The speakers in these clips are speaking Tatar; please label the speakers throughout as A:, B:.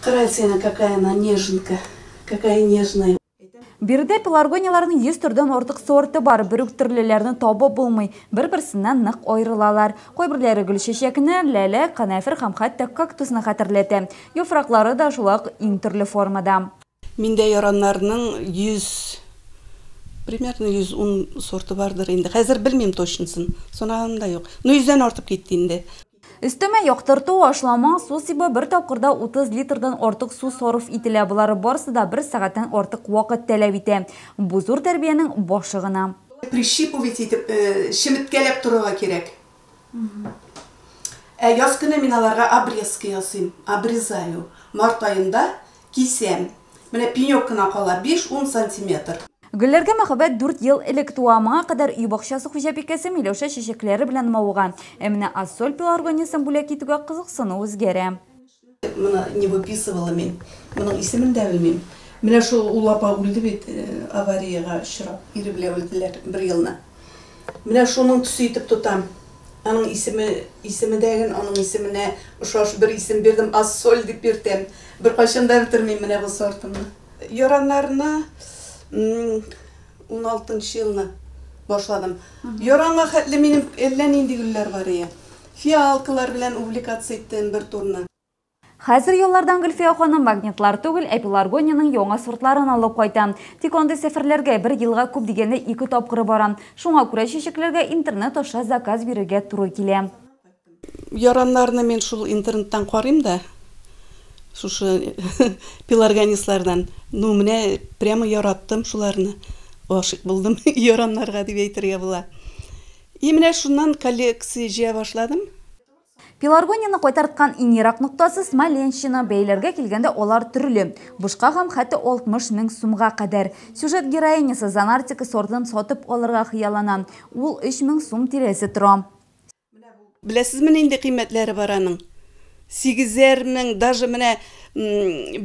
A: Кральцина какая она неженка, какая нежная. Биредә
B: пеларгонияләрнең 100 төрдән артык сорты бар. Бер үк төрлеләрне табып булмый, бер-берсеннән нык аерылалар. Кайберләре гөлчәчәкне, ләлә, канәфер һәм хәтта кактусны хәтерләтә. Яфраклары да шулай ук иң төрле формада. Миндә
A: яраннарның 100, примерно 110 сорты бардыр инде. Хәзер белмим точносын, санаганым да юк. Ну, йөздән артып китте инде. Өстәмә
B: яктырту, ашлама, су сибү, бер тапкырда 30 литрдан артык су сарыф ителә, болары барысы да бер сәгатьтән артык вакыт тәләп итә. Бу зур тәрбиянең башы гына. Прищипывать
A: итеп, чеметкәләп торырга кирәк. Ә яз көне мин аларга обрезка ясыйм, обрезаю. Март аенда кисәм. Менә пенек кына кала, биш-ун сантиметр. Гөлләргә мәхәббәт
B: дүрт ел элек туа. Моңа кадәр өй бакчасы хуҗабикәсе Миләүшә чәчәкләре белән мавыган. Ә менә Ассоль пеларгониясен бүләк итүгә кызыксыну үзгәрә. Моны
A: не выписывала мин. Моның исемен дә белмим. Менә шул ул апа үлде бит, аварияга очрап, ире белән үлделәр бер елны. Менә шуның төсе итеп тотам. Аның исеме, исеме дә гел аның исеменә ошаш бер исем бирдем, Ассоль дип йөртәм. Беркайчан да бетермим менә бу сортымны. Яраннарны уналтынчы елны башладым. Яранга хәтле минем әллә нинди гөлләр бар ие. Фиалкалар белән увлекаться иттем бер турны. Хәзер
B: еллардан Гөлфия ханым магнитлар түгел, ә пеларгониянең яңа сортларын алып кайта. Тик андый сәфәрләргә бер елга күп дигәндә ике тапкыр барам. Шуңа күрә чәчәкләргә интернет аша заказ бирергә туры килә.
A: Яраннарны мин шул интернеттан карыйм да, шушы пеларгонислардан. Ну, менә прямо яраттым шуларны. Гашыйк булдым яраннарга дип әйтергә була. И менә шуннан коллекция җыя башладым. Пеларгонияне
B: кайтарткан иң ерак ноктасы, Смоленщина. Бәяләргә килгәндә алар төрле. Бушка гамм хәтте 60 мең сумга кадәр. Сюжет героинясы Занартика сортын сатып алырга хыяллана. Ул 3 мең сум тирәсе тора.
A: Беләсезме нинди кыйммәтләре бар аның? Сигезәр мең, даже менә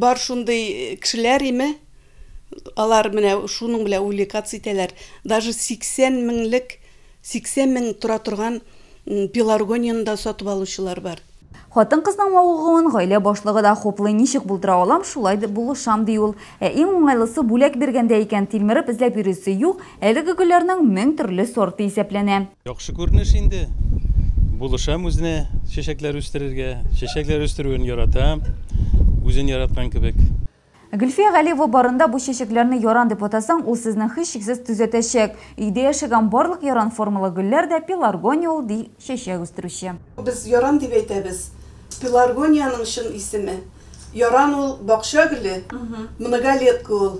A: бар шундый кешеләр име? Алар менә шуның белән увлекаться итәләр. Даже 80 меңлек, 80 мең тора торган пеларгонияне дә сатып алучылар бар. Хатын-кызның
B: мавыгуын гаилә башлыгы да хуплый, ничек булдыра алам, шулай булышам, ди ул. Ә иң уңайлысы, бүләк биргәндә икән, тилмереп эзләп йөрисе юк, әлеге гөлләрнең мең төрле сорты исәпләнә. Яхшы күренеш
C: инде. Булышам үзенә чәчәкләр үстерергә. Чәчәкләр үстерүен яратам, үзен яраткан кебек. Гөлфия
B: Галиева барында бу чәчәкләрне яран дип атасаң, ул сезне һичшиксез төзәтәчәк. Өйдә яшәгән барлык яран формалы гөлләр дә пеларгония ул, ди чәчәк үстерүче. Без яран дип
A: әйтәбез. Пеларгониянең чын исеме, яран ул, бакча гөле, многолетка ул.